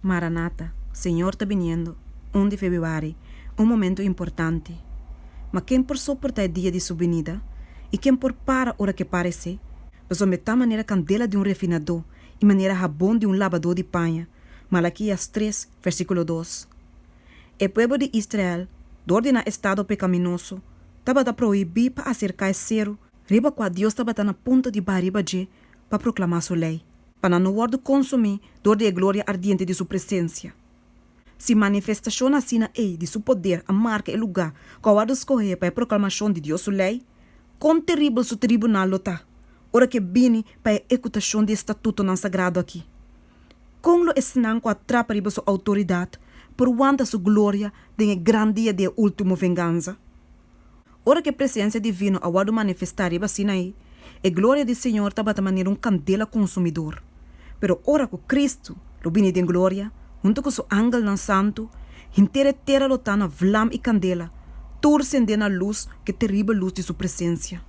Maranata, Señor ta biniendo, un di Febiuari, un momento importante. Ma ken por soporta e dia di Su binida? I ken por para ora ke para esei? Pasobra ta manera kandela di un refinadó i manera habon di un labadó di paña, Malakias tres, versíkulo dos. E pueblo di Israel, dor di nan estado pekaminoso, tabata prohibí pa aserká e seru, riba kua Dios tabata na punto di ba riba dje pa proclamá Su ley. Pa nan no worde consumí dor di e gloria ardiente di Su presencia. Si manifestacion asina ei di Su poder a marca e lugá cu a worde scohé pa e proclamacion di Dios Su ley, con teribel Su tribunal lo ta ora cu e bini pa e ecutacion di e statutonan sagrado aki! Con lo esnan cu a trapa riba Su autoridad por wanta Su gloria den e gran dia di e ultimo venganza? Ora ku e presensia divino a wòrdu manifestá riba Sinaí, e gloria di Señor tabata manera un kandela konsumidor. Pero ora ku Kristu lo bini den gloria, huntu ku Su angelnan santu, henter e tera lo ta na vlam i kandela, tur sendé na lus ku e teribel lus di Su presensia.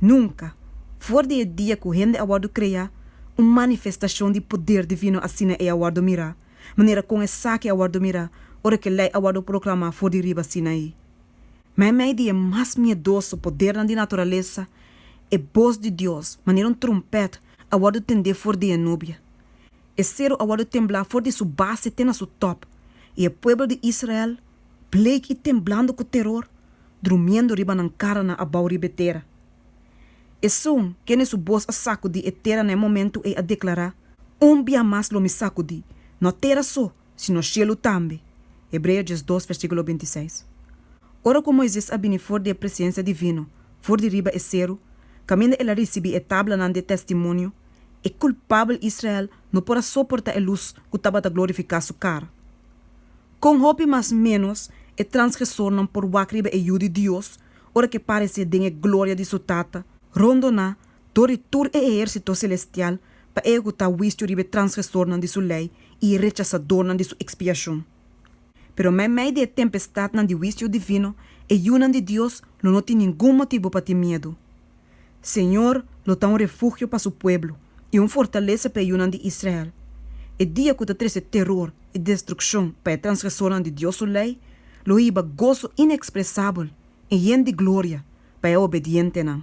Nunka, for di e dia ku hende a wòrdu kreá, un manifestashon di poder divino asina ei a wòrdu mirá. manera kon esaki a wòrdu mira ora ku e Lei a wòrdu proklamá for di riba Sinaí. Ma en mei di e mas miedoso podernan di naturalesa, e bos di Dios, manera un trumpèt, a wòrdu tendé for di e nubia. E seru a wòrdu temblá for di su base te na su tòp, i e pueblo di Israel, bleik i temblando ku teror, drumiendo riba nan karanan abou riba e tera. Esun, kende su bos a sakudi e tera na e momentu ei a deklará, Un bia mas lo mi sakudí, no tera so, sino shelu tambe. Hebreo dies dos, versíkulo binti seis. Ora ku Moises a bini for di e presensia divino, for di riba e seru, kaminda el a risibí e tablanan di e testimonio, e kulpabel Israel no por a soportá e lus ku tabata glorifiká su kara. Kon hopi mas ménos e transgresornan por wak riba e Yu di Dios ora ke paresé den e gloria di Su Tata, rondoná dor di tur e ehérsito selestial pa ehekutá huisio riba e transgresornan di Su lei i e rechasadornan di Su ekspiashon. Pero meimei di e tempestadnan di huisio divino, e yunan di Dios lo no tin ningun motibu pa tin miedu. Señor lo ta un refugio pa su pueblo, i un fortalesa pa e yunan di Israel. E dia ku ta trese teror i destrukshon pa e transgresornan di Dios su lei, lo hiba goso inekspresabel i yen di gloria pa e obedientenan.